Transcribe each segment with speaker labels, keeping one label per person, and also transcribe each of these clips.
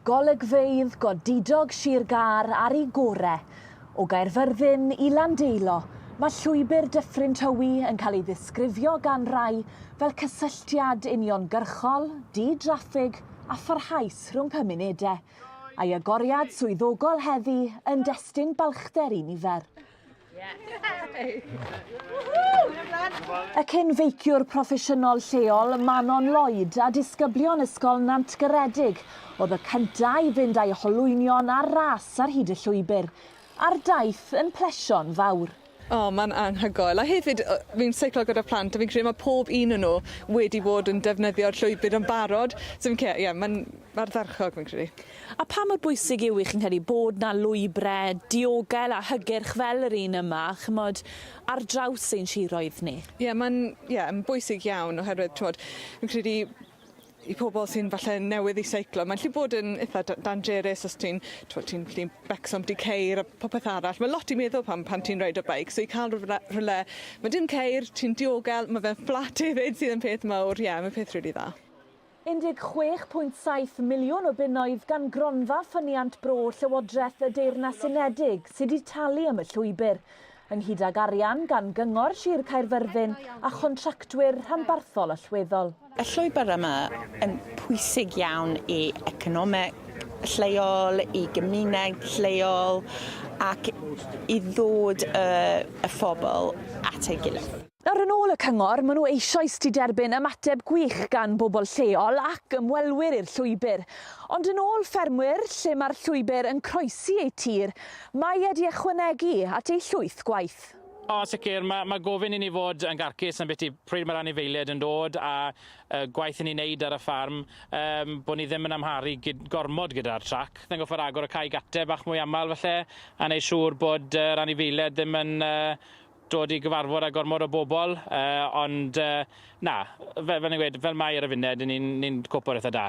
Speaker 1: Golygfeydd godidog Sir Gâr ar i gore. O Gaerfyrddin i Landeilo, mae Llwybr Dyffryn Tywi yn cael ei ddisgrifio gan rai fel cysylltiad uniongyrchol, di-draffig a pharhaus rhwng cymunedau, a'i agoriad swyddogol heddi yn destun balchder i nifer. Y cyn feiciwr proffesiynol lleol Manon Lloyd a disgyblion Ysgol Nant Garedig oedd y cyntaf i fynd â'i holwynion ar ras ar hyd y llwybr, a'r daith yn plesio'n fawr. O, mae'n anhygoel. A hefyd, fi'n seiclo gyda phlant a fi'n credu mae pob un o nhw wedi bod yn defnyddio'r llwybr yn barod. So fi'n credu, ie, mae'n ardderchog, fi'n credu. A pha mor bwysig yw i chi'n credu bod 'na lwybre diogel a hygyrch fel yr un yma, ch'mod, ar draws ein siroedd ni? Ie ma'n ie yn bwysig iawn oherwydd t'wod fi'n credu i pobol sy'n falle newydd i seiclo ma'n 'llu bod yn itha da- dangerous os ti'n t'wod ti'n 'llu becso ambytu ceir a popeth arall ma' lot i meddwl pan pan ti'n reidio beic so i ca'l rywle rywle ma' dim ceir ti'n diogel ma' fe'n fflat efyd sydd yn peth mowr ie ma'n peth rili dda. 16.7 miliwn o bunnoedd gan Gronfa Ffyniant Bro Llywodraeth y Deyrnas Unedig sydd wedi talu am y llwybr, ynghyd ag arian gan Gyngor Sir Caerfyrddin a chontractwyr rhanbarthol allweddol. Y llwybr yma yn pwysig iawn i economeg lleol, i gymuned lleol ac i ddod y y phobl at ei gilydd. Nawr, yn ôl y cyngor, maen nhw eisoes 'di derbyn ymateb gwych gan bobl lleol ac ymwelwyr i'r llwybr. Ond yn ôl ffermwyr, lle mae'r llwybr yn croesi eu tir, mae e 'di ychwanegu at eu llwyth gwaith. O, sicr, mae mae gofyn i ni fod yn garcus ambiti pryd mae'r anifeiliaid yn dod, a y gwaith i ni'n neud ar y ffarm, yym, bod ni ddim yn amharu gyd- gormod gyda'r trac. Ni'n gorfod agor y cae gate bach mwy aml falle, a neud siŵr bod yr anifeiliaid ddim yn yy dod i gyfarfod â gormod o bobl, uh, ond uh, na, fel, fel ni'n gweud, fel mae ar y funed, ni'n ni cwpwr eitha da.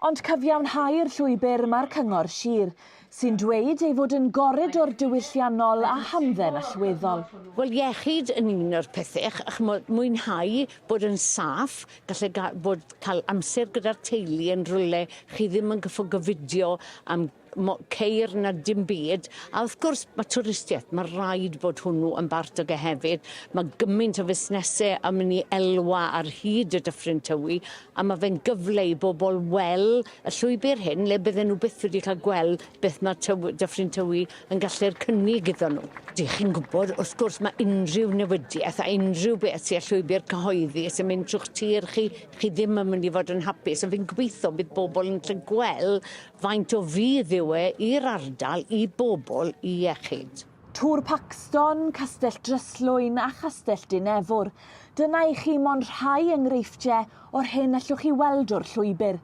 Speaker 1: Ond cyfiawnhau'r llwybr mae'r Cyngor Sir, sy'n dweud ei fod yn goridor diwylliannol a hamdden allweddol. Wel, iechyd yn un o'r pethau, chymod, mwynhau, bod yn saff, gallu bod cael amser gyda'r teulu yn rhywle chi ddim yn gyffo gyfidio am mo- ceir na dim byd a wrth gwrs ma' twristieth ma' raid bod hwnnw yn bart o ge hefyd ma' gymaint o fusnese yn myn' i elwa ar hyd y Dyffryn Tywi a ma' fe'n gyfle i bobol wel' y llwybyr hyn le bydden nw byth wedi ca'l gwel' beth ma' Tyw- Dyffryn Tywi yn gallu'r cynnig iddon nw. Dych chi'n gwbod wrth gwrs ma' unrhyw newidieth a unrhyw beth sy' â llwybyr cyhoeddus yn mynd trw'ch tir chi chi ddim yn mynd i fod yn hapus a fi'n gobeitho bydd bobol yn 'llu gwel' Faint o fudd yw e i'r ardal, i bobl, i iechyd? Tŵr Paxton, Castell Dryslwyn a Chastell Dinefwr. Dyna i chi mond rhai enghreifftiau o'r hyn allwch chi weld o'r llwybr.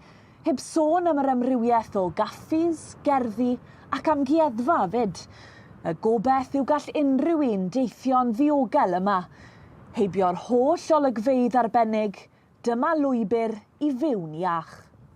Speaker 1: Heb sôn am yr amrywiaeth o gaffis, gerddi ac amgueddfa 'fyd. Y gobaith yw gall unrhyw un deithio'n ddiogel yma. Heibio'r holl olygfeydd arbennig, dyma lwybr i fyw'n iach.